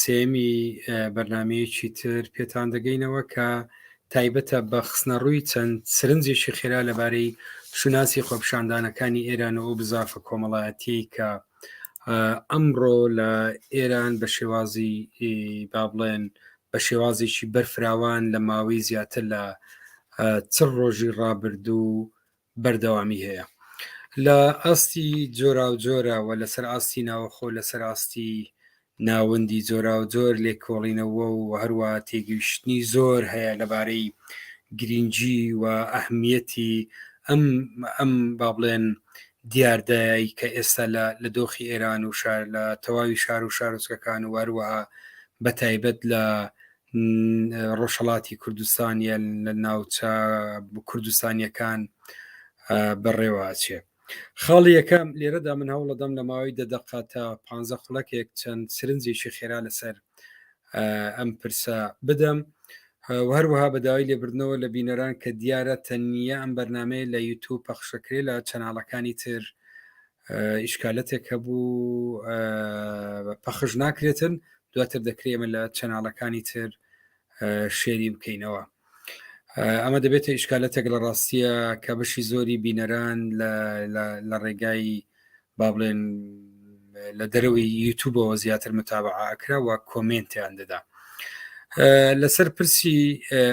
سێمی بەرنمەیەکی تر پێتان دەگەینەوە کە تایبەتە بە خستنەڕووی چەند سرنجێکی خێرا لەبارەی شوناسی خۆپشاندانەکانی ئێران و بزافە کۆمەڵایەتی کە ئەمڕۆ لە ئێران بە شێوازی با بڵێن بە شێوازێکی بەرفراوان لە ماوەی زیاتر لە چڕ ڕۆژی ڕابردوو بەردەوامی هەیە لە ئاستی جۆرا و جۆرەوە لەسەر ئاستی ناوەخۆ لەسەر ئاستی ناوەندی جۆرا و جۆر لێکۆڵینەوە و هەروە تێگەیشتنی زۆر هەیە لەبارەی گرنگجی و ئەهمیەتی ئەم ئەم با بڵێن دیاردەی کە ئێستا لە دۆخی ئێران و شار لە تەواوی شار و شارۆچکەکان و هەروەها بە تایبەت لە ڕۆژهڵاتی کوردستانیە لە ناوچە کوردستانیەکان بەڕێواچێ خاڵی یەکەم لێرەدا من هەوڵەدەم لە ماوەی دەدەقە تا پ خولەکێک چەند سرنجێکی خێرا لەسەر ئەم پرسە بدەم هەروەها بەداوای لێبردنەوە لە بینەران کە دیارە تەنیا ئەم بەرنمەیە لە یوتوب پەخشەکرێ لە چەناڵەکانی تر ئیشکالەتێک هەبوو پەخش ناکرێتن دواتر دەکرێمە لە چەناڵەکانی تر شێری بکەینەوە ئەمە دەبێتە ئیشکالەتێک لە ڕاستیە کە بەشی زۆری بینەران لە ڕێگای با بڵێن لە دەرەوەی یوتوبەوە زیاتر متابعە ئەکرا و کۆمنتیان دەدا لەسەر پرسی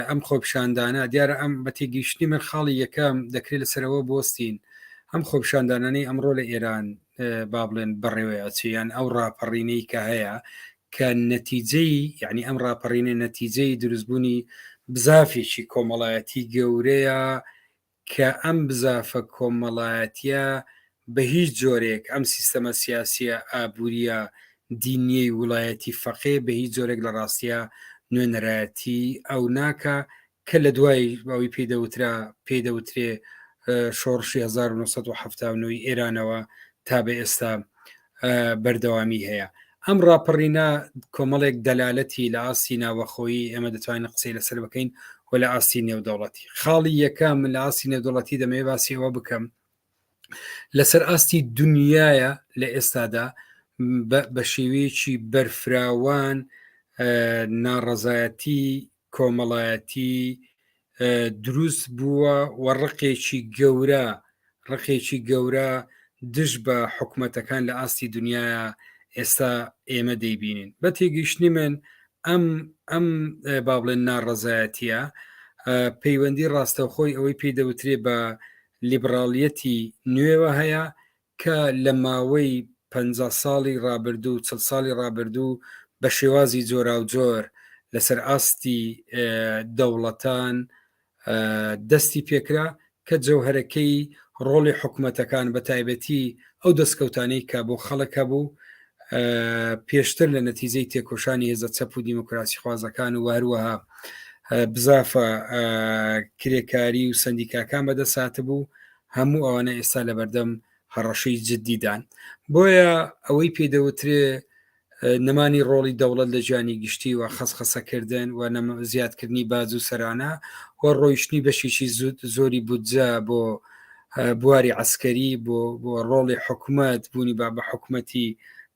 ئەم خۆپشاندانە دیارە ئەم بە تێگەیشتنی من خاڵی یەکەم دەکرێت لەسەرەوە بستین ئەم خۆپشاندانانەی ئەمڕۆ لە ئێران با بڵێن بەڕێوەی ئەچیان ئەو ڕاپەڕینەی کە هەیە کە نەتیجەی یعنی ئەم ڕاپەڕینە نەتیجەی دروستبوونی بزافێکی کۆمەڵایەتی گەورەیە کە ئەم بزافە کۆمەڵایەتیە بە هیچ جۆرێک ئەم سیستەمە سیاسیە ئابوریە دینیەی ولایەتی فەقێ بە هیچ جۆرێک لە ڕاستیا نوێنەرایەتی ئەو ناکا کە لە دوای ئەوی پێی دەوترا پێی دەوترێ شۆڕشی 1970 ئێرانەوە تا بە ئێستا بەردەوامی هەیە ئەم ڕاپەڕینە کۆمەڵێک دەلالەتی لە ئاستی ناوەخۆیی ئێمە دەتوانین قسەی لەسەر بکەین و لە ئاستی نێودەوڵەتی خاڵی یەکەم لە ئاستی نێودوڵەتی دەمەوێ باسیەوە بکەم لەسەر ئاستی دنیاە لە ئێستادا بە شێوەیەکی بەرفراوان ناڕەزایەتی کۆمەڵایەتی دروست بووە و ڕقێکی گەورە ڕقێکی گەورە دژ بە حکوومەتەکان لە ئاستی دنیا ئێستا ئێمە دەیبینین بە تێگەیشتنی من ئەم ئەم با بڵێن ناڕەزایەتە پەیوەندی ڕاستەوخۆی ئەوەی پێی دەوترێ بە لیبراڵیەتی نوێوە هەیە کە لە ماوەی پەنجا ساڵی ڕابردوو و چڵ ساڵی ڕابردوو بە شێوازی جۆراوجۆر لەسەر ئاستی دەوڵەتان دەستی پێکرا کە جەوهەرەکەی ڕۆڵی حکومەتەکان بە تایبەتی ئەو دەستکەوتانەی کە بۆ خەڵک هەبوو پێشتر لە نەتیجەی تێکۆشانی هێزە چەپ و دیموکراسی خوازەکان و هەروەها بزافە کرێکاری و سندیکاکان بەدەسات بوو هەموو ئەوانە ئێستا لە بەردەم هەڕەشەی جددیدان بۆیە ئەوەی پێدەوترێ نەمانی ڕۆڵی دەوڵەت لە جیانی گشتی و خەسخەسەکردن و زیادکردنی باز و سەرانە و ڕۆیشتنی بەشێکی زود زۆری بودجە بۆ بواری عسکەری بۆ بۆ ڕۆڵی حکوومەت بوونی با بە حکوومەتی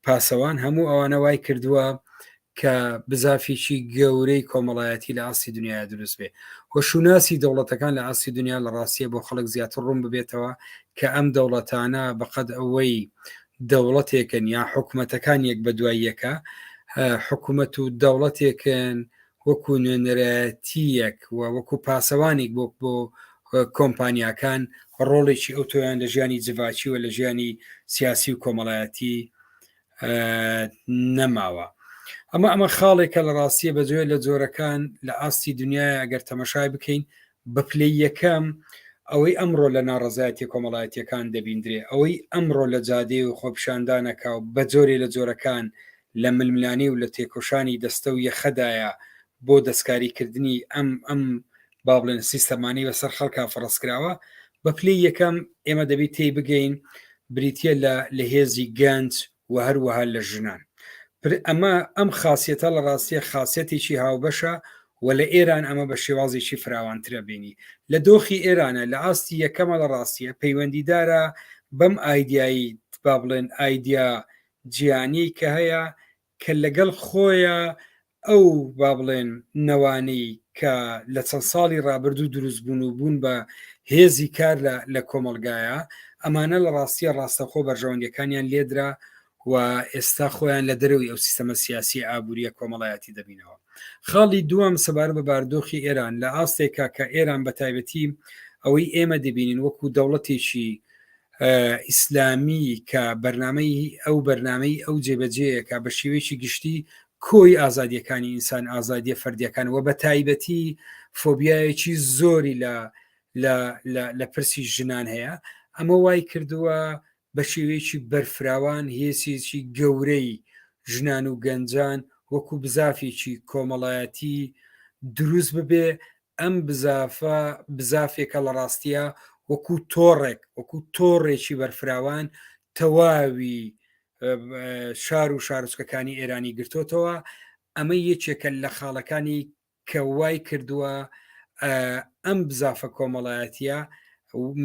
پاسەوان هەموو ئەوانە وای کردووە کە بزافێکی گەورەی کۆمەڵایەتی لە ئاستی دنیا دروست بێ وە شوناسی دەوڵەتەکان لە ئاستی دنیا لە ڕاستیە بۆ خەڵک زیاتر ڕوون ببێتەوە کە ئەم دەوڵەتانە بەقەد ئەوەی دەوڵەتێکن یا حکوومەتەکان یەک بە دوای یەکە حکوومەت و دەوڵەتێکن وەکو نوێنەرایەتیەک و وەکو پاسەوانێک بۆ بۆ کۆمپانیاکان ڕۆڵێکی ئەو تۆیان لە ژیانی جڤاکی و لە ژیانی سیاسی و کۆمەڵایەتی نەماوە ئەمە ئەمە خاڵێکە لە ڕاستیە بە جۆێ لە جۆرەکان لە ئاستی دنیای ئەگەر تەمەشای بکەین بە پلەی یەکەم ئەوەی ئەمڕۆ لە ناڕزایەتی کۆمەڵایەتەکان دەبیندرێ ئەوەی ئەمڕۆ لە جادێ و خۆپشاندانەکە و بە جۆرێ لە جۆرەکان لە ململانی و لە تێکۆشانی دەستە و یەخەدایە بۆ دەستکاریکردنی ئەم ئەم با بڵێن سیستەمانی بەسەر خەڵکا فڕستکراوە بە پلی یەکەم ئێمە دەبی تێی بگەین بریتە لە لە هێزی گەنج و هەروەها لە ژنان پر ئەمە ئەم خاصەتە لە ڕاستیە خاصەتێکی هاوبەشە و لە ئێران ئەمە بە شێوازێکی فراوانترە بینی لە دۆخی ئێرانە لە ئاستی یەکەمە لە ڕاستیە پەیوەندیدارە بەم ئایدایی با بڵێن ئایدیا جیانی کە هەیە کە لەگەڵ خۆیا ئەو با بڵێن نەوانەی کە لە چەند ساڵی ڕابردوو دروست بوون و بوون بە هێزی کار لە کۆمەلگایە ئەمانە لە ڕاستیە ڕاستەخۆ بەرژەوەندەکانیان لێدرا و ئێستا خۆیان لە دەرەوەی ئەو سیستەمە سیاسی ئابوووریە کۆمەڵایەتی دەبینەوە خاڵی دووەم سەبار بە باردۆخی ئێران لە ئاستێکا کە ئێران بە تایبەتی ئەوەی ئێمە دەبینین وەکو دەوڵەتێکی ئیسلامی کە بەرنمەی ئەو بەرنمەی ئەو جێبەجەیەکە بە شێوەیەکی گشتی کۆی ئازادیەکانی ئینسان ئازادیە فەردیەکان و بە تایبەتی فۆبیایەکی زۆری لە لە پرسی ژنان هەیە ئەمە وای کردووە بە شێوەیەکی بەرفراوان هێسێکی گەورەی ژنان و گەنجان وەکو بزافێکی کۆمەڵایەتی دروست ببێ ئەم بزافە بزافێکە لە ڕاستیە وەکو تۆڕێک وەکو تۆڕێکی بەرفراوان تەواوی شار و شارچکەکانی ئێرانی گرتوتەوە ئەمە یەکێکە لە خاڵەکانی کە وای کردووە ئەم بزافە کۆمەڵایەتە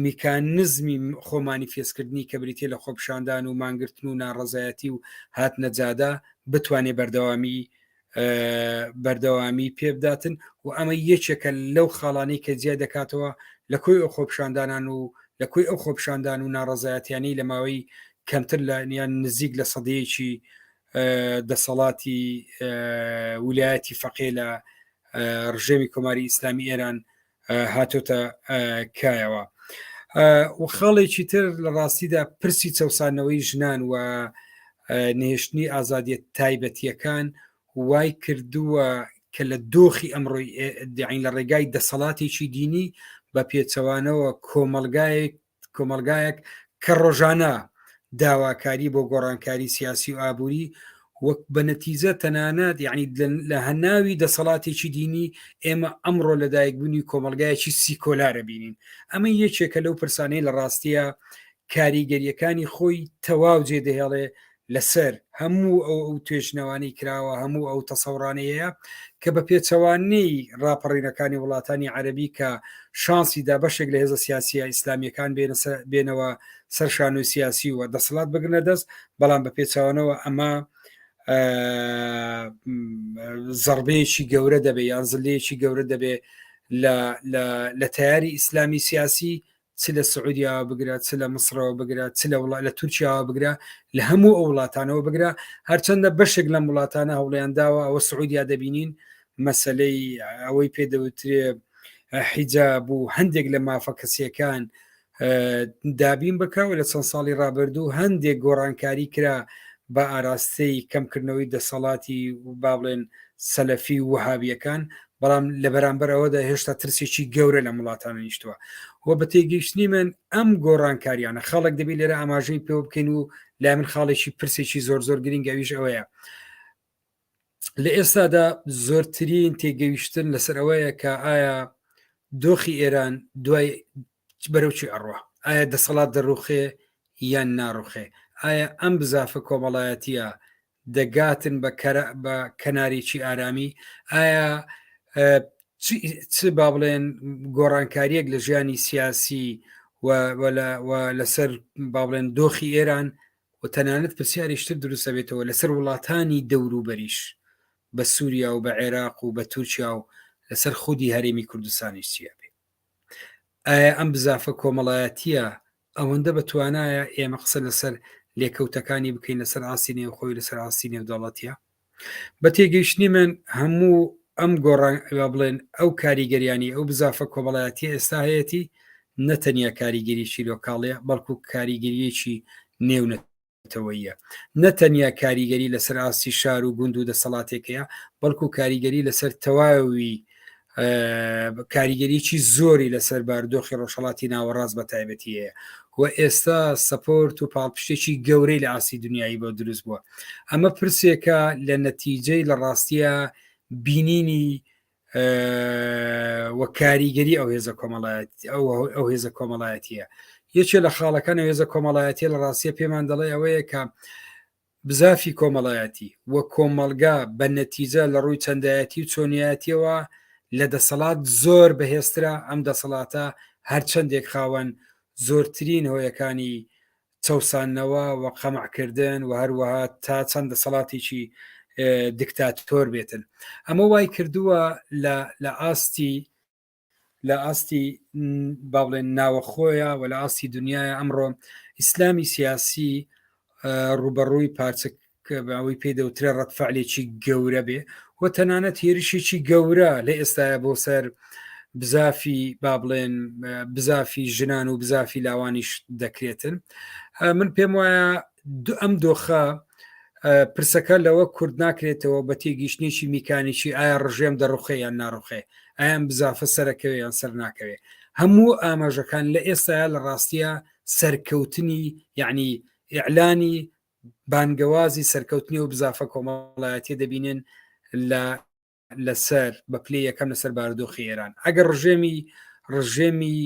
میکانزمی خۆمانی فێستکردنی کە بریتە لە خۆپشاندان و مانگرتن و ناڕزایەتی و هاتنەجادا بتوانێت بەردەوامی بەردەوامی پێبداتن و ئەمە یەکێکە لەو خاڵانی کە جیا دەکاتەوە لە کۆی ئەو خۆپشاندانان و لە کۆی ئەو خۆپشاندان و ناڕزایەتیانی لە ماوەی کەمتر لە نیان نزیک لە سەدەیەکی دەسەڵاتی ولایەتی فەقێ لە ڕژێمی کۆماری ئیسلامی ئێران هاتۆتە کایەوە و خاڵێکی تر لە ڕاستیدا پرسی چەسانەوەی ژنان و نهێشتنی ئازادیت تایبەتیەکان وای کردووە کە لە دۆخی ئەمڕۆی داین لە ڕێگای دەسەڵاتێکی دینی بە پێچەوانەوە کۆمەلگایەک کۆمەلگایەک کە ڕۆژانە داواکاری بۆ گۆڕانکاری سیاسی و ئابووری وەک بە نەتیزە تەنانەت یعنی لە هەناوی دەسەڵاتێکی دینی ئێمە ئەمڕۆ لەدایکبوونی کۆمەلگایەکی سیکۆلارە بینین ئەمە یەکێکە لەو پرسانەی لە ڕاستیە کاریگەریەکانی خۆی تەواو جێ دەهێڵێ لەسەر هەموو ئەو ئەو توێژنەوانی کراوە هەموو ئەو تەسەڕانەیە کە بە پێچەوانەی ڕاپەڕینەکانی وڵاتانی عەربی کە شانسی دا بەشێک لە هێزە سیاسیە ئیسلامیەکان بێنەوە سەر شانۆی سیاسی و دەسەڵات بگرنە دەست بەڵام بە پێچوانەوە ئەمە زەربەیەکی گەورە دەبێ یان زلەیەکی گەورە دەبێ لە تیاری ئیسلامی سیاسی چ لە سعودیاوە بگرە چ لە مسرەوە بگرە چ لە وڵات لە تورکیاوە بگرە لە هەموو ئەو وڵاتانەوە بگرە هەرچەندە بەشێک لەم وڵاتانە هەوڵیان داوە ئەوە سعودیا دەبینین مەسلەی ئەوەی پێ دەوترێ حیجا بوو هەندێک لە مافە کەسیەکان دابین بکەوە لە چەند ساڵی رابرردوو هەندێک گۆڕانکاری کرا بە ئاراستەی کەمکردنەوەی دەسەڵاتی و با بڵێن سەلەفی و وهابیەکان بەڵام لە بەرامبەر ئەوەدا هێشتا ترسێکی گەورە لە وڵاتان نیشتووە و بە تێگەیشتنی من ئەم گۆڕانکاریانە خاڵک دەبی لێرە ئاماژەی پێ بکەین و لای من خاڵێکی پرسێکی زۆر زۆر گرنگەویش ئەوەیە لە ئێستادا زۆرترین تێگەیشتن لەسەر ئەوەیە کە ئایا دۆخی ئێران دوای بەرەوچی ئەڕوە ئایا دەسەڵات دەڕوخێ یان ناڕوخێ ئایا ئەم بزافە کۆمەڵایەتە دەگاتن بە کەناریی ئارامی ئایا چ با بڵێن گۆڕانکاریەک لە ژیانی سیاسی لەسەر با بڵێن دۆخی ئێران و تەنانەت پرسیاریشتر دروستە بێتەوە لەسەر وڵاتانی دەوروبەریش بە سووریا و بە عێراق و بە تورکیا و لەسەر خودی هەرێمی کوردستانی چیە بێ ئایا ئەم بزافە کۆمەڵایەتیە ئەوەندە بە توانایە ئێمە قسە لەسەر لێکەوتەکانی بکەین لەسەر ئاستی نێوخۆی لەسەر ئاستی نێودەڵەتە بە تێگەیشتنی من هەموو ئەم گۆڕان بڵێن ئەو کاریگەریانی ئەو بزافە کۆمەڵایەتی ئێستا هەیەی نەتەنیا کاریگەریی لۆکاڵەیە بەڵکو کاریگەریەکی نێونەت نەتەوەیە نە تەنیا کاریگەری لەسەر ئاستی شار و گوند و دەسەڵاتێکەیە بەڵکو کاریگەری لەسەر تەواوی کاریگەریی زۆری لەسەر باردۆخی ڕۆژهڵاتی ناوەڕاست بە تایبەتیەیە و ئێستا سپۆرت و پاڵپشتێکی گەورەی لە ئاسی دنیایی بۆ دروست بووە ئەمە پرسێکە لە نەتیجەی لە ڕاستیە بینینی و کاریگەری ئەو هێزە کۆمەڵایەت ئەو هێزە کۆمەڵایەتیە یەکێ لە خاڵەکان هێزە کۆمەڵایەتی لە ڕاستیە پێمان دەڵێ ئەوەیە کە بزافی کۆمەڵایەتی و کۆمەلگا بە نەتیجە لە ڕووی چەندایەتی و چۆنیاتیەوە لە دەسەڵات زۆر بەهێسترا ئەم دەسەڵاتە هەرچەندێک خاوەن زۆرترین هۆیەکانی چەوساندنەوە و قەمعکردن و هەروەها تا چەند دەسەڵاتێکی دکتاتۆر بێتن ئەمە وای کردووە لە ئاستی لە ئاستی با بڵێن ناوەخۆیە و لە ئاستی دنیاە ئەمڕۆ ئیسلامی سیاسی ڕوبەڕووی پارچە کە بە ئەوەی پێی دەوترێ ڕەتفعلێکی گەورە بێ و تەنانەت هێرشێکی گەورە لە ئێستاە بۆ سەر بزافی با بڵێن بزافی ژنان و بزافی لاوانیش دەکرێتن من پێم وایە ئەم دۆخە پرسەکە لەوە کورد ناکرێتەوە بە تێگەیشتێکی میکانیکی ئایا ڕژێم دەڕوخێ یان ناڕوخێ ئایان بزافە سەرەکەوێ یان سەر ناکەوێ هەموو ئاماژەکان لە ئێستا لە ڕاستیە سەرکەوتنی یعنی ئیعلانی بانگەوازی سەرکەوتنی ئەو بزافە کۆمەڵایەتیە دەبینن لە لەسەر بە پلی یەکەم لەسەر باردۆخی ئێران ئەگەر ڕژێمی ڕژێمی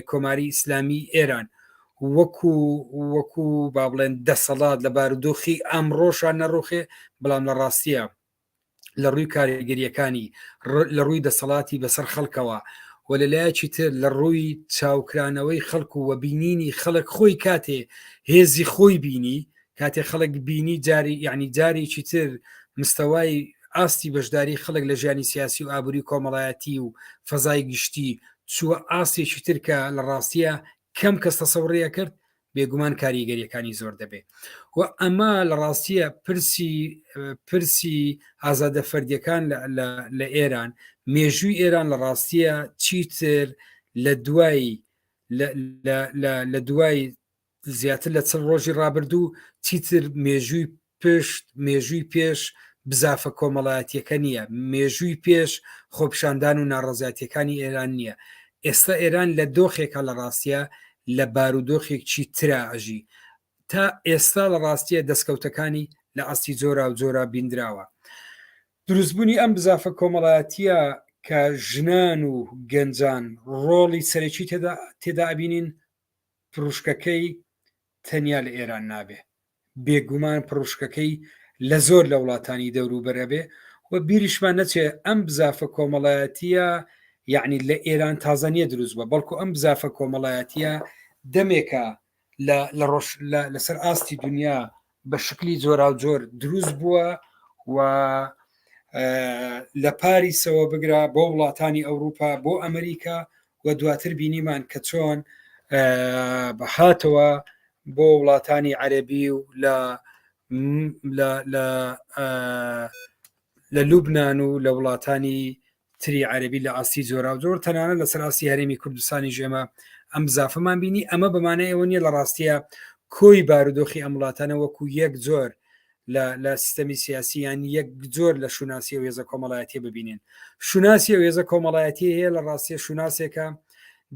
کۆماری ئیسلامی ئێران وەکو وەکو با بڵێن دەسەڵات لە بارودۆخی ئەمڕۆشان نەڕوخێ بەڵام لە ڕاستیە لە ڕووی کاریگەریەکانی لە ڕووی دەسەڵاتی بەسەر خەڵکەوە و لە لایەکی تر لە ڕووی چاوکرانەوەی خەڵک و وەبینینی خەڵک خۆی کاتێ هێزی خۆی بینی کاتێ خەڵک بینی جاری یعنی جارێکی تر مستەوای ئاستی بەشداری خەڵک لە ژیانی سیاسی و ئابووری کۆمەڵایەتی و فەزای گشتی چووە ئاستێکی ترکە لە ڕاستیە کەم کەس تەسەڕیە کرد بێگومان کاریگەریەکانی زۆر دەبێ و ئەمە لە ڕاستیە پرسی پرسی ئازادە فەردیەکان لە ئێران مێژووی ئێران لە ڕاستیە چیتر لە دوایی لە دوای زیاتر لە چل ڕۆژی ڕابردوو چیتر مێژووی پشت، مێژووی پێش بزافە کۆمەڵایەتیەکە نیە، مێژووی پێش خۆپیشاندان و ناڕەزایەتیەکانی ئێران نیە، ئێستا ئێران لە دۆخێکە لە ڕاستیا لە بارودۆخێکچی ترا ئەژی، تا ئێستا لە ڕاستیە دەسکەوتەکانی لە ئاستی جۆراو جۆرا بیندراوە. دروست بونی ئەم بزافە کۆمەڵایەتیە کە ژنان و گەنجان ڕۆڵی سەرەکی تێدا ئەبینین پروشکەکەی تەنیا لە ئێران نابێ، بێگومان پڕوشکەکەی لە زۆر لە وڵاتانی دەوروبەر ئەبێ و بیریشمان نەچێ ئەم بزافە کۆمەڵایەتیە یعنی لە ئێران تازە نییە دروست بە بەڵکو ئەم بزافە کۆمەڵایەتیە دەمێکە لە ڕۆژ لەسەر ئاستی دنیا بە شکلی جۆرا و جۆر دروست بووە و لە پاریسەوە بگرە بۆ وڵاتانی ئەوروپا بۆ ئەمریکا و دواتر بینیمان کە چۆن هاتەوە بۆ وڵاتانی عەربی و لە لە لوبناان و لە وڵاتانی تری عەربی لە ئاستی جۆرا و جۆر تەنانە لە سەراستی هەرێمی کوردستانی ژێمە ئەم زافمان بینی ئەمە بەمانە ئەوە نیە لە ڕاستیە کۆی بارودۆخی ئەم وڵاتانە وەکو یەک جۆر لە سیستەمی سیاسی یان یەک جۆر لە شوناسی و هێزە کۆمەڵایەتی ببینین شوناسی و هێزە کۆمەڵایەتی هەیە لە ڕاستیە شوناسێکە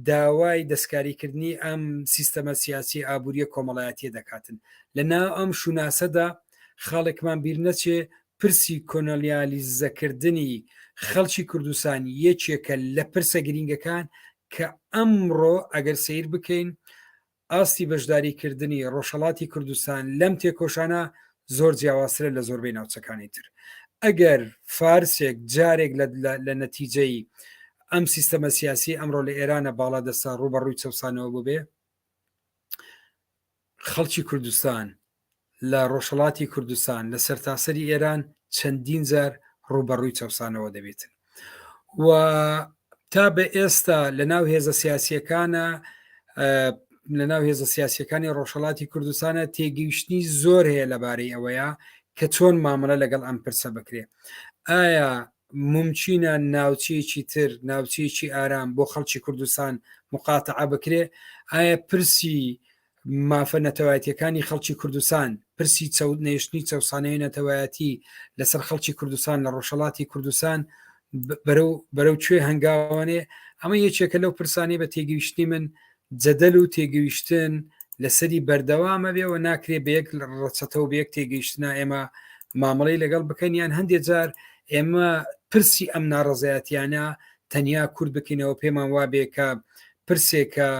داوای دەستکاریکردنی ئەم سیستەمە سیاسی ئابوووریە کۆمەڵایەتی دەکاتن لە ناو ئەم شوناسەدا خاڵێکمان بیر نەچێ پرسی کۆنەلیالیزەکردنی خەڵکی کوردستان یەکێکە لە پرسە گرینگەکان کە ئەمڕۆ ئەگەر سیر بکەین ئاستی بەشداریکردنی ڕۆژهەڵاتی کوردستان لەم تێکۆشانە زۆر جیاوازترە لە زۆربەی ناوچەکانی تر ئەگەر فارسێک جارێک لە نەتیجەی ئەم سیستەمە سیاسی ئەمڕۆ لە ئێرانە باڵا دەستا ڕوبەڕووی چەسانەوە ببێ خەڵکی کوردستان لە ڕۆژهەڵاتی کوردستان لە سەرتاسەری ئێران چەندین جار ڕووبەڕووی چەوسانەوە دەبێتن و تا بە ئێستا لە ناو هێزە سیاسیەکانە لە ناو هێزە سیاسیەکانی ڕۆژهڵاتی کوردستانە تێگەیشتنی زۆر هەیە لەبارەی ئەوەیە کە چۆن مامەڵە لەگەڵ ئەم پرسە بکرێ ئایا ممچینە ناوچەیەکی تر ناوچەیەکی ئارام بۆ خەڵکی کوردستان مقاتعە بکرێ ئایا پرسی مافە نەتەوایەتیەکانی خەڵکی کوردستان پرسی چەود نەیشتنی چەسانەیە نەتەوایەتی لەسەر خەڵکی کوردستان لە ڕۆژهڵاتی کوردستان بەرەو بەرەو کوێ هەنگاوانێ ئەمە یەکێکە لەو پرسانی بە تێگەیشتنی من جەدەل و تێگەیشتن لەسەری بەردەوامە بێەوە ناکرێ بە یەک ڕەچەتە و بەیەک تێگەیشتنا ئێمە مامەڵی لەگەڵ بکەن یان هەندێک جار ئێمە پرسی ئەم ناڕزایەتیانە تەنیا کورد بکەینەوە پێمان وابێ کە پرسێکە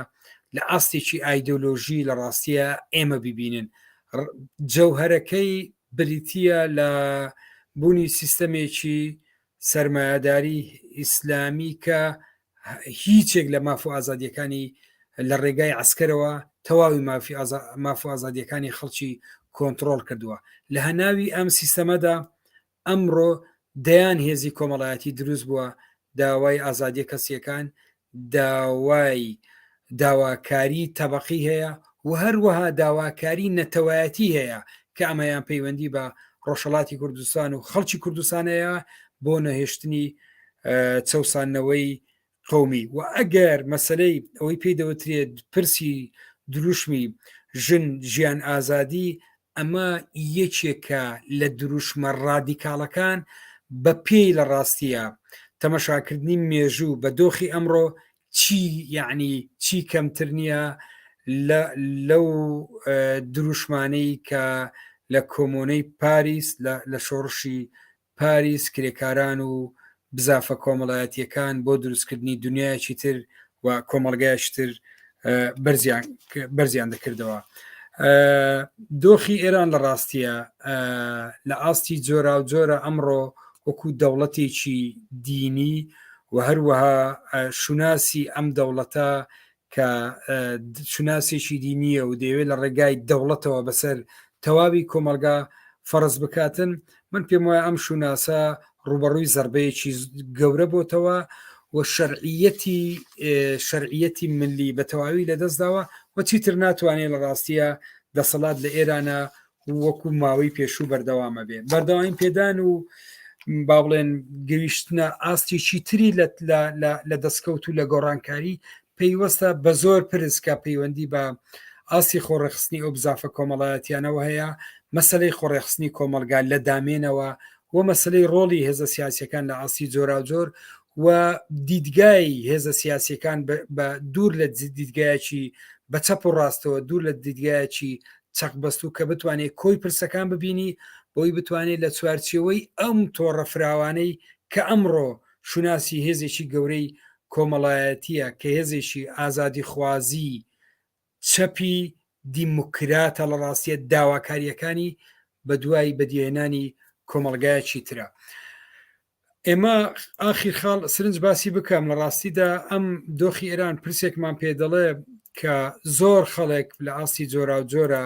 لە ئاستێکی ئایدۆلۆژی لە ڕاستیە ئێمە ببینن جەوهرەکەی بریتە لە بوونی سیستەمێکی سرمایهداری ئیسلامی کە هیچێک لە ماف و ئازادیەکانی لە ڕێگای ئەسکەرەوە تەواوی مافی ماف و ئازادیەکانی خەڵکی کۆنتترۆل کردووە لە هەناوی ئەم سیستەمەدا ئەمڕۆ دەیان هێزی کۆمەڵایەتی دروست بووە داوای ئازادیە کەسیەکان داوای داواکاری تەبقی هەیە و هەروەها داواکاری نەتەوایەتی هەیە کە ئەمەیان پەیوەندی بە ڕۆژهڵاتی کوردستان و خەڵکی کوردستانەیە بۆ نەهێشتنی چەسانەوەی قومی و ئەگەر مەسلەی ئەوەی پێی دەوترێت پرسی دروشمی ژن ژیان ئازادی ئەمە یەکێکە لە دروشمە ڕادیکاڵەکان بە پێی لە ڕاستیە تەمەشاکردنی مێژوو بە دۆخی ئەمڕۆ چی یعنی چی کەمتر نییە لەو دروشمانەی کە لە کۆمۆنەی پاریس لە شۆڕشی پاریس، کرێکاران و بزافە کۆمەڵایەتییەکان بۆ دروستکردنی دنیایەکی تر و کۆمەڵگایەکی تر بەرزیان دەکردەوە. دۆخی ئێران لە ڕاستیە لە ئاستی جۆرا و جۆرە ئەمڕۆ وەکو دەوڵەتێکی دینی و هەروەها شوناسی ئەم دەوڵەتە کە شوناسێکی دینیە و دەیەوێت لە ڕێگای دەوڵەتەوە بەسەر تەواوی کۆمەلگا فەرز بکاتن من پێم وایە ئەم شوناسە ڕوبەڕووی زربەیەکی گەورە بۆتەوە و شەرعیەتی شەرعیەتی ملی بە تەواوی لەدەستداوە و چیتر ناتوانێت لە ڕاستیە دەسەڵات لە ئێرانە وەکو ماوەی پێشوو بەردەوامە بێ بەردەوامی پێدان و با بڵێن گەیشتنە ئاستی چیتری لە دەستکەوت و لە گۆڕانکاری پەیوەستە بە زۆر پرسکە پەیوەندی بە ئاستی خۆڕێخستنی ئەو بزافە کۆمەڵایەتیانەوە هەیە مەسلەی خۆڕێخستنی کۆمەلگا لە دامێنەوە و مەسلەی ڕۆڵی هێزە سیاسەکان لە ئاستی جۆرا جۆر و دیدگای هێزە سیاسەکان بە دوور لە دیدگایەکی بە چەپ و ڕاستەوە دوور لە دیدگایەکی چەق بەستوو کە بتوانێت کۆی پرسەکان ببینی بۆی بتوانێت لە چوارچێوەی ئەم تۆڕە فراوانەی کە ئەمڕۆ شوناسی هێزێکی گەورەی کۆمەڵایەتیە کە هێزێکی ئازادی خوازی چەپی دیموکراتە لە ڕاستیە داواکاریەکانی بە دوای بەدیێنانی کۆمەلگایەکی ترە. ئێمە ئاخیر خاڵ سرنج باسی بکەم لە ڕاستیدا ئەم دۆخی ئێران پرسێکمان پێ دەڵێ کە زۆر خەڵێک لە ئاستی جۆرا و جۆرە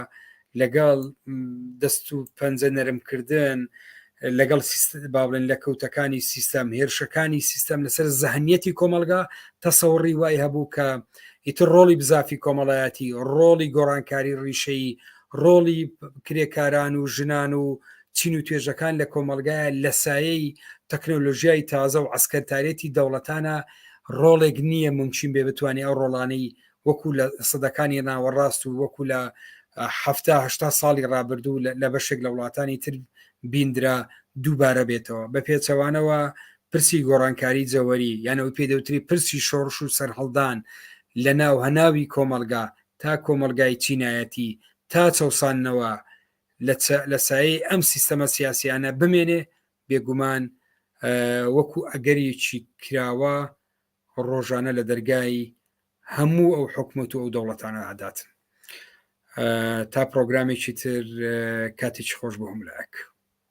لەگەڵ دەست و پەنجە نەرمکردن لەگەڵ باڵێن لە کەوتەکانی سیستەم هێرشەکانی سیستەم لەسەر زەهنیەتی کۆمەلگا تەسەوڕی وای هەبوو کە ئیتر ڕۆڵی بزافی کۆمەڵایەتی ڕۆڵی گۆڕانکاری ڕیشەی ڕۆڵی کرێکاران و ژنان و چین و توێژەکان لە کۆمەڵگایە لە سایەی تەکنۆلۆژیای تازە و عەسکەرتارێتی دەوڵەتانە ڕۆڵێک نییە ممکن بێ بتوانێت ئەو ڕۆڵانەی وەکو لە سەدەکانی ناوەڕاست و وەکو لە هەهشتا ساڵی ڕابردوو لە بەشێک لە وڵاتانی تر بیندرا دووبارە بێتەوە بە پێچەوانەوە پرسی گۆڕانکاری جەوەری یانە و پێدەوتری پرسی شۆڕش و سەرهەڵدان لە ناو هەناوی کۆمەلگا تا کۆمەلگای چینایەتی تا چەسانەوە لە سایەی ئەم سیستەمە سیاسیانە بمێنێ بێگومان وەکو ئەگەرێکی کراوە ڕۆژانە لە دەرگای هەموو ئەو حکومت و ئەو دەوڵەتانە ئاداتن تا پرۆگرامێکی تر کاتێکی خۆش بۆ هەملاک.